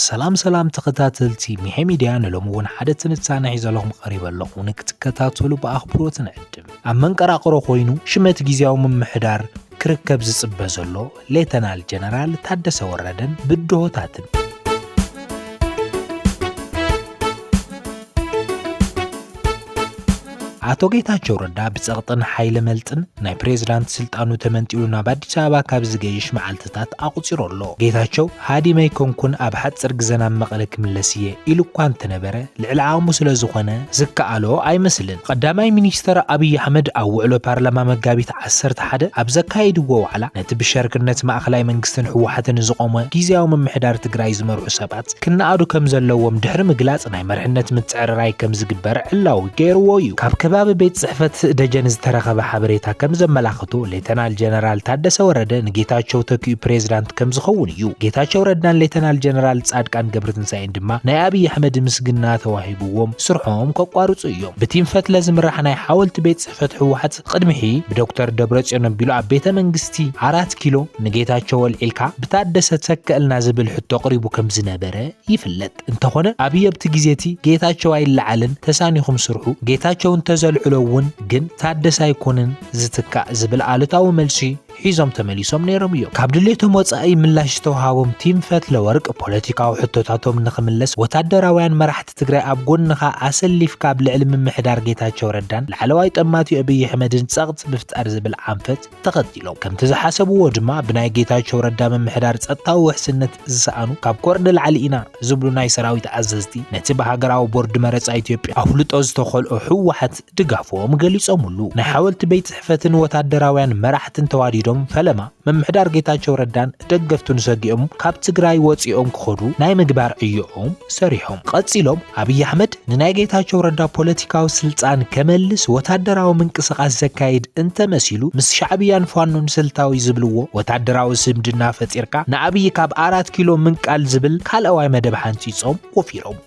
ሰላም ሰላም ተኸታተልቲ ሚሐ ሚድያ ንሎሚ እውን ሓደ ትንታነ ሒዘለኹም ቀሪበ ኣለኹ ንክትከታተሉ ብኣኽብሮት ንዕድም ኣብ መንቀራቕሮ ኮይኑ ሽመት ግዜያዊ ምምሕዳር ክርከብ ዝጽበ ዘሎ ሌተናል ጀነራል ታደሰ ወረደን ብድሆታትን። ኣቶ ጌታቸው ረዳ ብጸቕጥን ሓይለ መልጥን ናይ ፕሬዝዳንት ስልጣኑ ተመንጢሉ ናብ ኣዲስ ኣበባ ካብ ዝገይሽ መዓልትታት ኣቑፂሩ ኣሎ። ጌታቸው ሃዲመይ ኮንኩን ኣብ ሓፅር ግዘ ናብ መቐለ ክምለስ እየ ኢሉ እኳ እንተነበረ ልዕሊ ዓቕሙ ስለ ዝኾነ ዝከኣሎ ኣይመስልን። ቐዳማይ ሚኒስተር ኣብይ ኣሕመድ ኣብ ውዕሎ ፓርላማ መጋቢት ዓሰርተ ሓደ ኣብ ዘካየድዎ ዋዕላ ነቲ ብሸርክነት ማእኸላይ መንግስትን ህወሓትን ዝቖመ ጊዚያዊ ምምሕዳር ትግራይ ዝመርሑ ሰባት ክነኣዱ ከምዘለዎም ድሕሪ ምግላፅ ናይ መርሕነት ምትዕርራይ ከምዝግበር ዕላዊ ገይርዎ ዩ። ካብ ከባቢ ቤት ፅሕፈት ደጀን ዝተረኸበ ሓበሬታ ከምዘመላኽቶ ሌተናል ጀነራል ታደሰ ወረደ ንጌታቸው ተኪኡ ፕሬዝዳንት ከምዝኸውን ዩ። ጌታቸው ረዳን ሌተናል ጀነራል ፃድቃን ገብረትንሳኤን ጸላእቶም ድማ ናይ ኣብይ ኣሕመድ ምስግና ተዋሂብዎም ስርሖም ከቋርጹ እዮም። ብቲም ፈትለ ዝምራሕ ናይ ሓወልቲ ቤት ጽሕፈት ህወሓት ቕድሚ ሕይ ብዶክተር ደብረጽዮን ኣቢሉ ኣብ ቤተ መንግስቲ ኣራት ኪሎ ንጌታቸው ኣልዒልካ ብታደሰ ተከእልና ዝብል ሕቶ ቕሪቡ ከም ዝነበረ ይፍለጥ። እንተኾነ ኣብይ ኣብቲ ግዜ እቲ ጌታቸው ኣይለዓልን ተሳኒኹም ስርሑ ጌታቸው እንተዘልዕሎ እውን ግን ታደሰ ኣይኮንን ዝትካእ ዝብል ኣሉታዊ መልሲ ሒዞም ተመሊሶም ነይሮም እዮም። ካብ ድሌቶም ወፃኢ ምላሽ ዝተውሃቦም ቲም ፈትለወርቅ ፖለቲካዊ ሕቶታቶም ንኽምለስ ወታደራውያን መራሕቲ ትግራይ ኣብ ጎንኻ ኣሰሊፍካ ኣብ ልዕሊ ምምሕዳር ጌታቸው ረዳን ላዕለዋይ ጠማቲ ኣብይ ኣሕመድን ፀቕጢ ምፍጣር ዝብል ኣንፈት ተኸቲሎም ከምቲ ዝሓሰብዎ ድማ ብናይ ጌታቸው ረዳ ምምሕዳር ፀጥታዊ ውሕስነት ዝሰኣኑ ካብ ኮር ንላዕሊ ኢና ዝብሉ ናይ ሰራዊት ኣዘዝቲ ነቲ ብሃገራዊ ቦርድ መረጻ ኢትዮጵያ ኣፍልጦ ዝተኸልኦ ህወሓት ድጋፎም ገሊጾምሉ። ናይ ሓወልቲ ቤት ጽሕፈትን ወታደራውያን መራሕትን ተዋዲዶም ፈለማ ምምሕዳር ጌታቸው ረዳን ደገፍቱን ሰጊኦም ካብ ትግራይ ወጺኦም ክኸዱ ናይ ምግባር ዕዮኦም ሰሪሖም። ቀጺሎም ኣብይ ኣሕመድ ንናይ ጌታቸው ረዳ ፖለቲካዊ ስልጣን ከመልስ ወታደራዊ ምንቅስቓስ ዘካይድ እንተመሲሉ ምስ ሻዕብያን ፋኖን ስልታዊ ዝብልዎ ወታደራዊ ስምድና ፈጢርካ ንኣብዪ ካብ ኣራት ኪሎ ምንቃል ዝብል ካልኣዋይ መደብ ሓንፂፆም ወፊሮም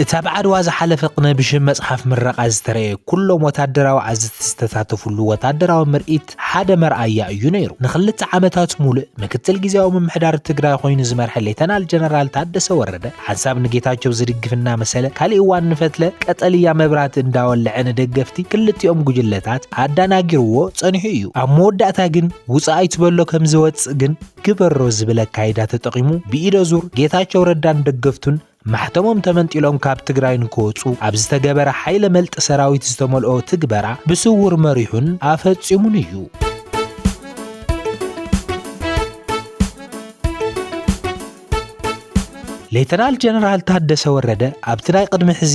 እቲ ኣብ ዓድዋ ዝሓለፈ ቅነ ብሽም መጽሓፍ ምረቓ ዝተረየ ኩሎም ወታደራዊ ዓዝቲ ዝተሳተፍሉ ወታደራዊ ምርኢት ፕረዚደንት ሓደ መርኣያ እዩ ነይሩ። ንክልተ ዓመታት ሙሉእ ምክትል ጊዜያዊ ምምሕዳር ትግራይ ኾይኑ ዝመርሐ ሌተናል ጀነራል ታደሰ ወረደ ሓንሳብ ንጌታቸው ዝድግፍ እናመሰለ ካሊእ እዋን ንፈትለ ቀጠልያ መብራህቲ እንዳወለዐ ንደገፍቲ ክልቲኦም ጉጅለታት ኣዳናጊርዎ ፀኒሑ እዩ። ኣብ መወዳእታ ግን ውፃእ ኣይትበሎ ከምዝወፅእ ግን ግበሮ ዝብል ኣካይዳ ተጠቒሙ ብኢደዙር ጌታቸው ረዳን ደገፍቱን ማሕተሞም ተመንጢሎም ካብ ትግራይ ንክወፁ ኣብ ዝተገበረ ሓይለ መልጢ ሰራዊት ዝተመልኦ ትግበራ ብስውር መሪሑን ኣፈፂሙን እዩ። ሌተናል ጀነራል ታደሰ ወረደ ኣብቲ ናይ ቅድሚ ሕዚ፣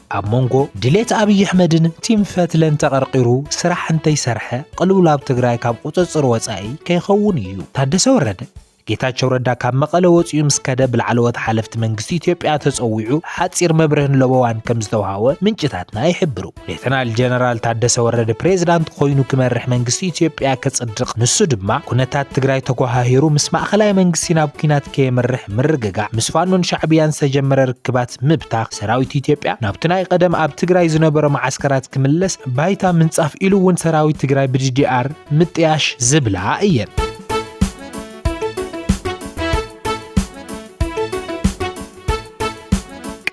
ኣብ መንጎ ድሌት ኣብይ ኣሕመድን ቲም ፈትለን ተቐርቒሩ ስራሕ እንተይሰርሐ ቕልውላብ ትግራይ ካብ ቑፅፅር ወፃኢ ከይኸውን እዩ። ታደሰ ወረደ ጌታቸው ረዳ ካብ መቐለ ወፂኡ ምስ ከደ ብላዕለዎት ሓለፍቲ መንግስቲ ኢትዮጵያ ተፀዊዑ ሓፂር መብርህን ለበዋን ከምዝተውሃቦ ምንጭታትና ይሕብሩ። ሌተናል ጀነራል ታደሰ ወረደ ፕሬዝዳንት ኾይኑ ክመርሕ መንግስቲ ኢትዮጵያ ከፅድቕ ንሱ ድማ ኩነታት ትግራይ ተጓሃሂሩ ምስ ማእኸላይ መንግስቲ ናብ ኲናት ከየምርሕ ምርግጋዕ ምስ ፋኖን ሻዕብያን ዝተጀመረ ርክባት ምብታኽ ሰራዊት ኢትዮጵያ ናብቲ ናይ ቐደም ኣብ ትግራይ ዝነበሮ መዓስከራት ክምለስ ባይታ ምንጻፍ ኢሉ እውን ሰራዊት ትግራይ ብዲዲኣር ምጥያሽ ዝብላ እየን።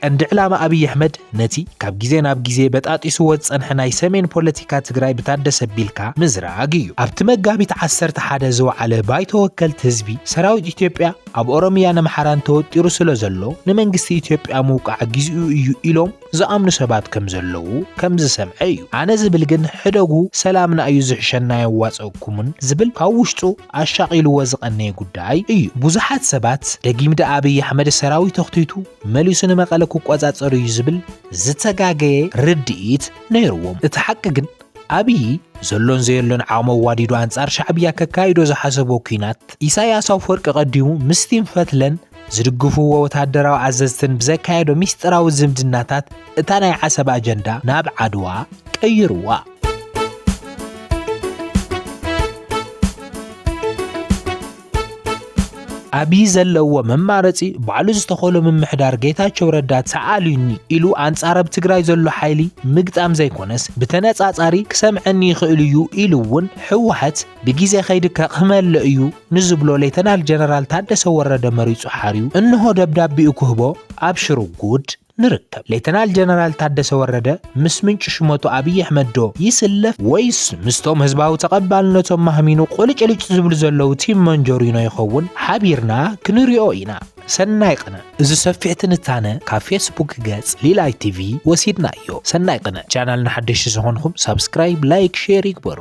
ቀንዲ ዕላማ ኣብይ ኣሕመድ ነቲ ካብ ግዜ ናብ ግዜ በጣጢስዎ ዝጸንሐ ናይ ሰሜን ፖለቲካ ትግራይ ብታደሰ ኣቢልካ ምዝራግ እዩ። ኣብቲ መጋቢት 11 ዝወዓለ ባይቶ ወከልቲ ህዝቢ ሰራዊት ኢትዮጵያ ኣብ ኦሮምያን ኣምሓራን ተወጢሩ ስለ ዘሎ ንመንግስቲ ኢትዮጵያ ምውቃዕ ግዜኡ እዩ ኢሎም ዝኣምኑ ሰባት ከም ዘለዉ ከም ዝሰምዐ እዩ። ኣነ ዝብል ግን ሕደጉ ሰላምና እዩ ዝሕሸና ኣየዋጸእኩምን ዝብል ካብ ውሽጡ ኣሻቒልዎ ዝቐነየ ጉዳይ እዩ። ብዙሓት ሰባት ደጊም ደኣ ኣብይ ኣሕመድ ሰራዊት ኣኽቲቱ መሊሱ ንመቐለ ክቆጻጸር እዩ ዝብል ዝተጋገየ ርድኢት ነይርዎም። እቲ ሓቂ ግን ኣብዪ ዘሎን ዘየሎን ዓቕሚ ኣዋዲዱ ኣንጻር ሻዕብያ ከካይዶ ዝሓሰቦ ኲናት ኢሳያስ ኣፈወርቂ ቀዲሙ ምስቲም ፈትለን ዝድግፍዎ ወተሃደራዊ ኣዘዝትን ብዘካየዶ ሚስጥራዊ ዝምድናታት እታ ናይ ዓሰብ ኣጀንዳ ናብ ዓድዋ ቀይርዋ። ኣብይ ዘለዎ መማረፂ ባዕሉ ዝተኸሎ ምምሕዳር ጌታቸው ረዳ ተኣልዩኒ ኢሉ ኣንፃር ኣብ ትግራይ ዘሎ ሓይሊ ምግጣም ዘይኮነስ ብተነፃፃሪ ክሰምዐኒ ይኽእል እዩ ኢሉ እውን ህወሓት ብግዜ ከይዲ ከቕህመለ እዩ ንዝብሎ ሌተናል ጀነራል ታደሰ ወረደ መሪፁ ሓርዩ እንሆ ደብዳቤኡ ክህቦ ኣብሽሩ ጉድ ንርከብ። ሌተናል ጀነራል ታደሰ ወረደ ምስ ምንጪ ሽመቱ ኣብይ ኣሕመድ ዶ ይስለፍ ወይስ ምስቶም ህዝባዊ ተቐባልነቶም ማህሚኑ ቁልጭልጭ ዝብሉ ዘለዉ ቲም መንጆሪኖ ይኸውን ሓቢርና ክንሪኦ ኢና። ሰናይ ቕነ እዚ ሰፊሕ ትንታነ ካብ ፌስቡክ ገጽ ሊላይ ቲቪ ወሲድናዮ። ሰናይ ቕነ። ቻናልና ሓደሽቲ ዝኾንኹም ሳብስክራይብ፣ ላይክ፣ ሼር ይግበሩ።